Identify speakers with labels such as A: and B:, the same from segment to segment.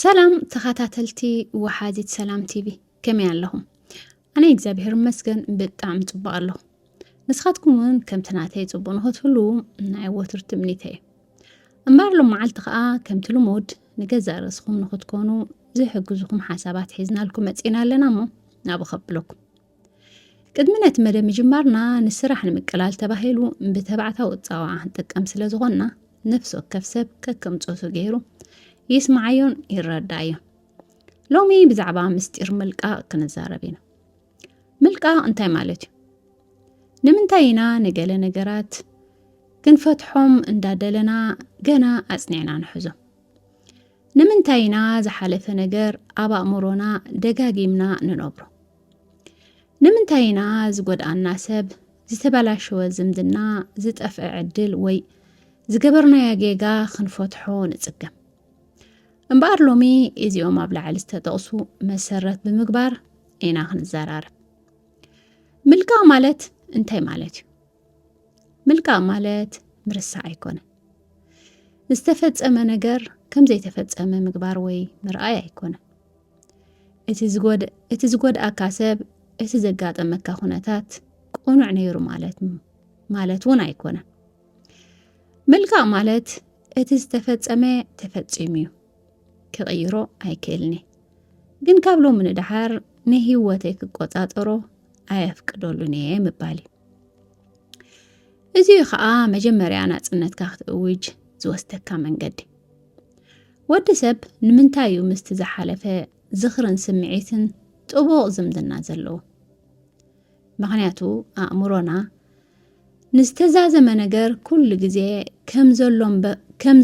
A: ሰላም ተኸታተልቲ ወሓዚት ሰላም ቲቪ ከመይ ኣለኹም? ኣነ እግዚኣብሔር ይመስገን ብጣዕሚ ፅቡቅ ኣለኹ። ንስኻትኩም እውን ከምቲ ናተይ ፅቡቅ ንኽትህሉ ናይ ወትሩ ትምኒተ እዩ። እምበር ሎም መዓልቲ ከዓ ከምቲ ልሙድ ንገዛእ ርእስኹም ንኽትኮኑ ዝሕግዙኹም ሓሳባት ሒዝናልኩም መፂና ኣለና እሞ ናብ ኸብለኩም ቅድሚ ነቲ መደብ ምጅማርና ንስራሕ ንምቅላል ተባሂሉ ብተባዕታዊ ፃዋዓ ንጥቀም ስለ ዝኾንና ነፍሲ ወከፍ ሰብ ከከም ፆቱ ገይሩ ይስምዓዮን ይረዳእዮን ሎሚ ብዛዕባ ምስጢር ምልቃቕ ክንዛረብ ኢና ምልቃቕ እንታይ ማለት እዩ ንምንታይ ኢና ንገለ ነገራት ክንፈትሖም እንዳደለና ገና ኣጽኒዕና ንሕዞ ንምንታይ ኢና ዝሓለፈ ነገር ኣብ ኣእምሮና ደጋጊምና ንነብሮ ንምንታይ ኢና ዝጎድኣና ሰብ ዝተበላሸወ ዝምድና ዝጠፍዐ ዕድል ወይ ዝገበርናዮ ጌጋ ክንፈትሖ ንጽገም እምበኣር ሎሚ እዚኦም ኣብ ላዕሊ ዝተጠቕሱ መሰረት ብምግባር ኢና ክንዘራርብ ምልቃቕ ማለት እንታይ ማለት እዩ ምልቃቕ ማለት ምርሳዕ ኣይኮነን ዝተፈጸመ ነገር ከም ዘይተፈጸመ ምግባር ወይ ምርኣይ ኣይኮነን እቲ ዝጎድኣካ ሰብ እቲ ዘጋጠመካ ኩነታት ቁኑዕ ነይሩ ማለት ማለት እውን ኣይኮነን። ምልካእ ማለት እቲ ዝተፈጸመ ተፈጺሙ እዩ ክቕይሮ ኣይክእልኒ ግን ካብ ሎሚ ንደሓር ንህይወተይ ክቆጻጸሮ ኣየፍቅደሉን እየ ምባል እዩ። እዚ ከዓ መጀመርያ ናጽነትካ ክትእውጅ ዝወስደካ መንገዲ ወዲ ሰብ ንምንታይ እዩ ምስቲ ዝሓለፈ ዝኽርን ስምዒትን ጥቡቕ ዝምድና ዘለዎ? ምኽንያቱ ኣእምሮና ንዝተዛዘመ ነገር ኩሉ ግዜ ከም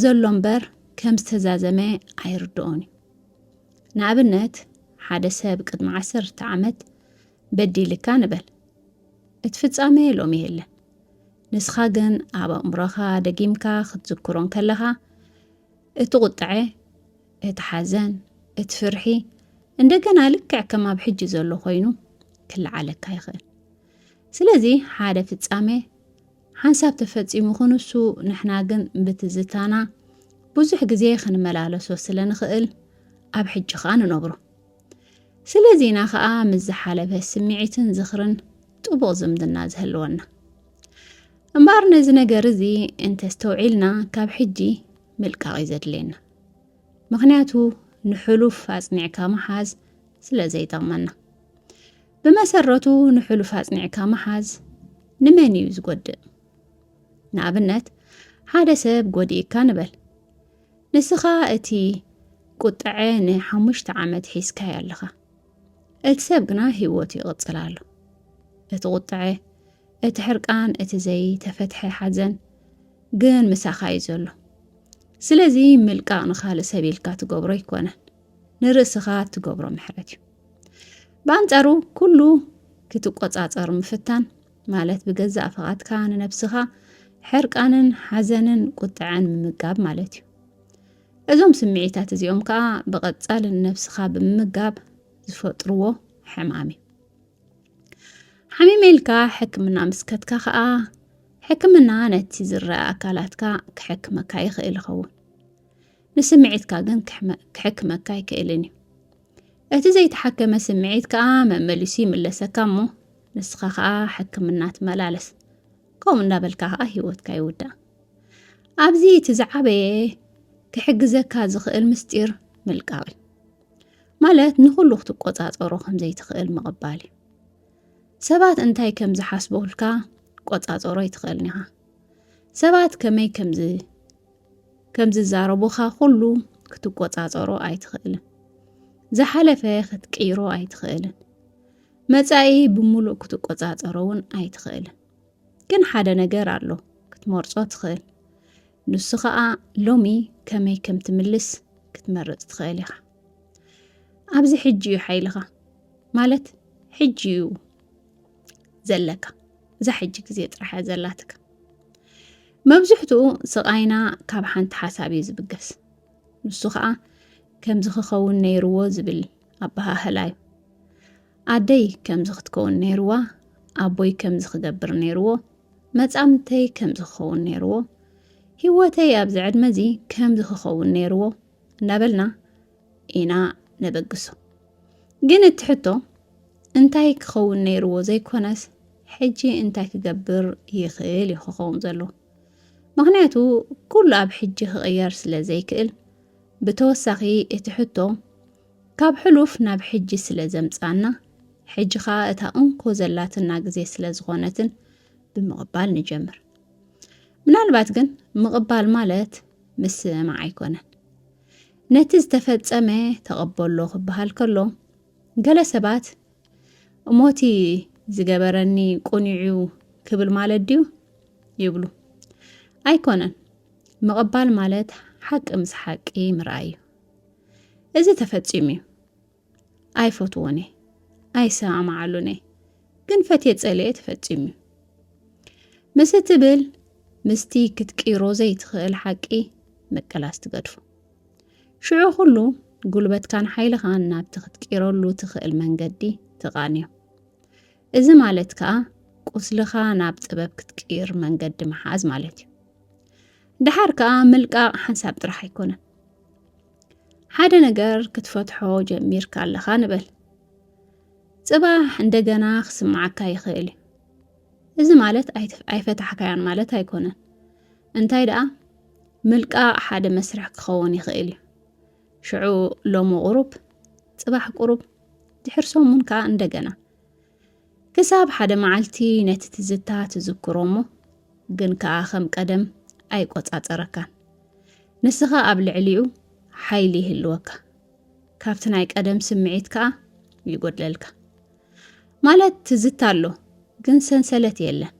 A: ዘሎ እምበር ከም ዝተዛዘመ ኣይርድኦን እዩ። ንኣብነት ሓደ ሰብ ቅድሚ ዓሰርተ ዓመት በዲልካ ንበል እቲ ፍጻሜ ሎሚ የለን ንስኻ ግን ኣብ ኣእምሮኻ ደጊምካ ክትዝክሮ እንከለኻ እቲ ቁጥዐ እቲ ሓዘን እቲ ፍርሒ እንደገና ልክዕ ከም ኣብ ሕጂ ዘሎ ኮይኑ ክለዓለካ ይኽእል ስለዚ ሓደ ፍጻሜ ሓንሳብ ተፈጺሙ ክንሱ ንሕና ግን ብትዝታና ብዙሕ ግዜ ክንመላለሶ ስለ ንኽእል ኣብ ሕጂ ኸኣ ንነብሮ ስለዚ ኢና ከኣ ምስ ዝሓለፈ ስምዒትን ዝኽርን ጥቡቕ ዝምድና ዝህልወና። እምበኣር ነዚ ነገር እዚ እንተስተውዒልና ካብ ሕጂ ምልቃቕ እዩ ዘድልየና። ምኽንያቱ ንሕሉፍ ኣጽኒዕካ ምሓዝ ስለ ዘይጠቕመና። ብመሰረቱ ንሕሉፍ ኣጽኒዕካ ምሓዝ ንመን እዩ ዝጎድእ? ንኣብነት ሓደ ሰብ ጎዲእካ ንበል። ንስኻ እቲ ቁጥዐ ንሓሙሽተ ዓመት ሒዝካዮ ኣለኻ እቲ ሰብ ግና ህይወቱ ይቕፅል ኣሎ እቲ ቁጥዐ እቲ ሕርቃን እቲ ዘይተፈትሐ ሓዘን ግን ምሳኻ እዩ ዘሎ ስለዚ ምልቃቕ ንኻልእ ሰብ ኢልካ ትገብሮ ኣይኮነን ንርእስኻ እትገብሮ ምሕረት እዩ ብኣንጻሩ ኩሉ ክትቆጻጸር ምፍታን ማለት ብገዛእ ፍቓድካ ንነብስኻ ሕርቃንን ሓዘንን ቁጥዐን ምምጋብ ማለት እዩ እዞም ስምዒታት እዚኦም ከዓ ብቐጻሊ ንነብስኻ ብምምጋብ ዝፈጥርዎ ሕማም እዩ ሓሚመ ኢልካ ሕክምና ምስ ከትካ ከዓ ሕክምና ነቲ ዝረአ ኣካላትካ ክሕክመካ ይኽእል ይኸውን ንስምዒትካ ግን ክሕክመካ ኣይክእልን እዩ እቲ ዘይተሓከመ ስምዒት ከኣ መመሊሱ ይምለሰካ እሞ ንስኻ ከኣ ሕክምና ትመላለስ ከምኡ እንዳበልካ ከኣ ሂወትካ ይውዳእ ኣብዚ እቲ ዝዓበየ ክሕግዘካ ዝኽእል ምስጢር ምልቃቕ እዩ ማለት ንኹሉ ክትቆጻጸሮ ከም ዘይትኽእል ምቕባል እዩ ሰባት እንታይ ከም ዝሓስቡልካ ቆጻጸሮ ኣይትኽእልን ኢኻ ሰባት ከመይ ከምዚ ከም ዝዛረቡኻ ኩሉ ክትቆጻጸሮ ኣይትኽእልን። ዝሓለፈ ክትቅይሮ ኣይትኽእልን። መጻኢ ብምሉእ ክትቆጻጸሮ እውን ኣይትኽእልን ግን ሓደ ነገር ኣሎ ክትመርጾ ትኽእል ንሱ ኸኣ ሎሚ ከመይ ከም ትምልስ ክትመርጽ ትኽእል ኢኻ ኣብዚ ሕጂ እዩ ሓይልኻ ማለት ሕጂ እዩ ዘለካ እዛ ሕጂ ግዜ ጥራሕ እያ ዘላትካ መብዝሕትኡ ስቓይና ካብ ሓንቲ ሓሳብ እዩ ዝብገስ ንሱ ከዓ ከምዚ ክኸውን ነይርዎ ዝብል ኣበሃህላ እዩ ኣደይ ከምዚ ክትከውን ነይርዋ ኣቦይ ከምዚ ክገብር ነይርዎ መጻምድተይ ከምዚ ክኸውን ነይርዎ ህይወተይ ኣብዚ ዕድመ እዚ ከምዚ ክኸውን ነይርዎ እንዳበልና ኢና ነበግሶ ግን እቲ ሕቶ እንታይ ክኸውን ነይርዎ ዘይኮነስ ሕጂ እንታይ ክገብር ይኽእል እዩ ክኸውን ዘለዎ ምክንያቱ ኩሉ ኣብ ሕጂ ክቕየር ስለ ዘይክእል ብተወሳኺ እቲ ሕቶ ካብ ሕሉፍ ናብ ሕጂ ስለ ዘምጻና ሕጂ ከዓ እታ እንኮ ዘላትና ግዜ ስለ ዝኾነትን ብምቕባል ንጀምር ምናልባት ግን ምቕባል ማለት ምስምማዕ ኣይኮነን ነቲ ዝተፈጸመ ተቐበሎ ክበሃል ከሎ ገለ ሰባት እሞቲ ዝገበረኒ ቁኒዑ ክብል ማለት ድዩ ይብሉ። ኣይኮነን። ምቕባል ማለት ሓቂ ምስ ሓቂ ምርኣይ እዩ። እዚ ተፈጺሙ እዩ። ኣይፈትዎን እየ ኣይሰማማዓሉን እየ ግን ፈትየ ጸልየ ተፈጺሙ እዩ ምስ እትብል ምስቲ ክትቅይሮ ዘይትኽእል ሓቂ ምቅላስ ትገድፉ ሽዑ ኩሉ ጉልበትካን ሓይልኻን ናብቲ ክትቅይረሉ ትኽእል መንገዲ ትቓንዮ እዚ ማለት ከዓ ቁስልኻ ናብ ጥበብ ክትቅይር መንገዲ ምሓዝ ማለት እዩ ድሓር ከዓ ምልቃቕ ሓንሳብ ጥራሕ ኣይኮነን ሓደ ነገር ክትፈትሖ ጀሚርካ ኣለኻ ንበል ጽባሕ እንደገና ክስምዓካ ይኽእል እዩ እዚ ማለት ኣይፈታሕካያን ማለት ኣይኮነን እንታይ ደኣ ምልቃቕ ሓደ መስርሕ ክኸውን ይኽእል እዩ ሽዑ ሎሚ ቁሩብ ጽባሕ ቁሩብ ድሕር ሰሙን ከዓ እንደገና ክሳብ ሓደ መዓልቲ ነቲ ትዝታ ትዝክሮ እሞ ግን ከኣ ከም ቀደም ኣይቆጻጸረካን። ንስኻ ኣብ ልዕሊኡ ሓይሊ ይህልወካ። ካብቲ ናይ ቀደም ስምዒት ከኣ ይጎድለልካ። ማለት ትዝታ ኣሎ ግን ሰንሰለት የለን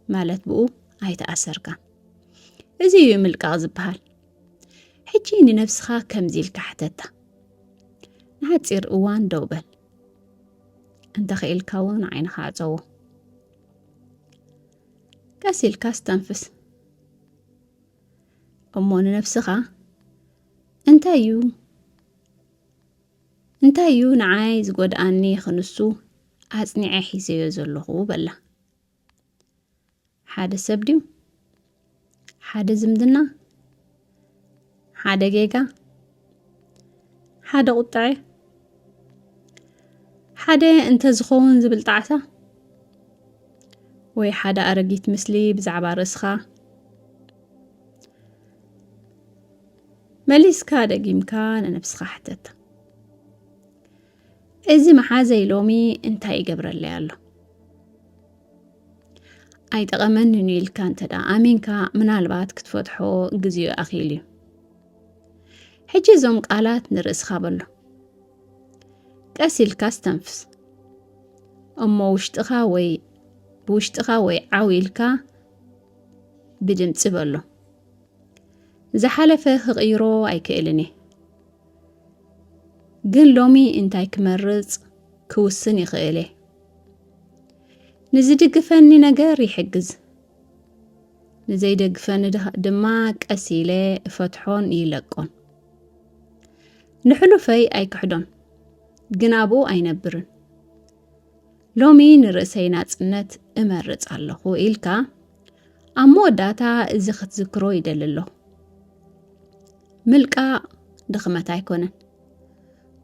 A: ማለት ብኡ ኣይተኣሰርካን። እዚ እዩ ምልቃቕ ዝበሃል። ሕጂ ንነብስኻ ከምዚ ኢልካ ሕተታ። ንሓጺር እዋን ደው በል። እንተኽኢልካ እውን ዓይንኻ ኣፀዎ ቀስ ኢልካ ኣስተንፍስ እሞ ንነብስኻ እንታይ እዩ እንታይ እዩ ንዓይ ዝጎድኣኒ ክንሱ ኣጽኒዐ ሒዘዮ ዘለኹ በላ ሓደ ሰብ ድዩ ሓደ ዝምድና ሓደ ጌጋ ሓደ ቁጥዐ ሓደ እንተዝኸውን ዝብል ጣዕሳ ወይ ሓደ ኣረጊት ምስሊ ብዛዕባ ርእስኻ መሊስካ ደጊምካ ንነብስኻ ሕተታ እዚ መሓዘይ ሎሚ እንታይ ይገብረለይ ኣሎ ኣይጠቐመንን እዩ ኢልካ እንተ ደኣ ኣሚንካ ምናልባት ክትፈትሖ ግዜኡ ኣኽኢሉ እዩ ሕጂ እዞም ቃላት ንርእስኻ በሎ ቀስ ኢልካ ስተንፍስ እሞ ውሽጥኻ ወይ ብውሽጥኻ ወይ ዓው ኢልካ ብድምፂ በሎ ዝሓለፈ ክቕይሮ ኣይክእልን እየ ግን ሎሚ እንታይ ክመርጽ ክውስን ይኽእል እየ። ንዝድግፈኒ ነገር ይሕግዝ፣ ንዘይደግፈኒ ድኻ- ድማ ቀስ ኢለ እፈትሖን ይለቆን። ንሕሉፈይ ኣይክሕዶን፣ ግን ኣብኡ ኣይነብርን። ሎሚ ንርእሰይ ናጽነት እመርጽ ኣለኹ ኢልካ ኣብ መወዳእታ እዚ ክትዝክሮ ይደሊ ኣለኹ። ምልቃቕ ድኽመት ኣይኮነን።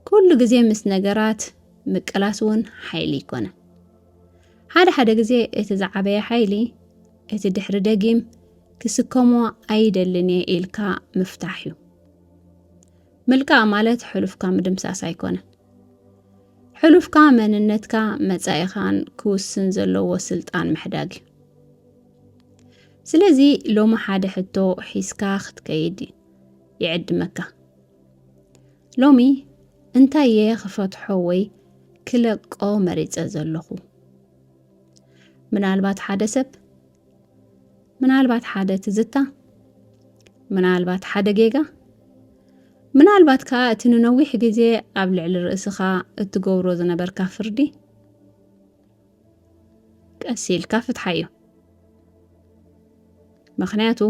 A: ኩሉ ግዜ ምስ ነገራት ምቅላስ እውን ሓይሊ ኣይኮነን። ሓደ ሓደ ግዜ እቲ ዝዓበየ ሓይሊ እቲ ድሕሪ ደጊም ክስከሞ ኣይደልን እየ ኢልካ ምፍታሕ እዩ። ምልቃቕ ማለት ሕሉፍካ ምድምሳስ ኣይኮነን። ሕሉፍካ መንነትካ መጻኢኻን ክውስን ዘለዎ ስልጣን ምሕዳግ እዩ። ስለዚ ሎሚ ሓደ ሕቶ ሒዝካ ክትከይድ ይዕድመካ ሎሚ እንታይ እየ ክፈትሖ ወይ ክለቆ መሪፀ ዘለኹ ምናልባት ሓደ ሰብ ምናልባት ሓደ ትዝታ ምናልባት ሓደ ጌጋ ምናልባት ከዓ እቲ ንነዊሕ ግዜ ኣብ ልዕሊ ርእስኻ እትገብሮ ዝነበርካ ፍርዲ ቀስ ኢልካ ፍትሓዮ ምክንያቱ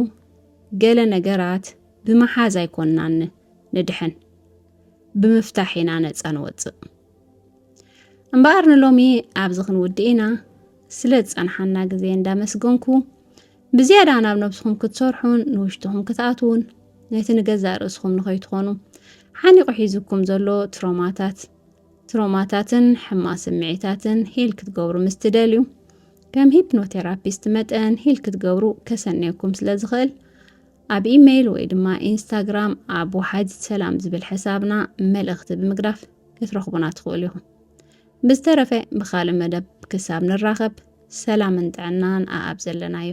A: ገለ ነገራት ብምሓዝ ኣይኮንናን ንድሕን ብምፍታሕ ኢና ነፃ ንወፅእ እምበኣር ንሎሚ ኣብዚ ክንውድእ ኢና ስለ ዝፀንሓና ግዜ እንዳመስገንኩ ብዝያዳ ናብ ነብስኹም ክትሰርሑን ንውሽጥኹም ክትኣትውን ነቲ ንገዛእ ርእስኹም ንኸይትኾኑ ሓኒቑ ሒዙኩም ዘሎ ትሮማታት ትሮማታትን ሕማቅ ስምዒታትን ሂል ክትገብሩ ምስ ትደልዩ፣ ከም ሂፕኖቴራፒስት መጠን ሂል ክትገብሩ ከሰንየኩም ስለ ዝኽእል፣ ኣብ ኢመይል ወይ ድማ ኢንስታግራም ኣብ ወሓዚት ሰላም ዝብል ሕሳብና መልእኽቲ ብምግዳፍ ክትረኽቡና ትኽእሉ ኢኹም። ብዝተረፈ ብኻልእ መደብ ክሳብ ንራኸብ ሰላምን ጥዕናን ኣኣብ ዘለናዮ።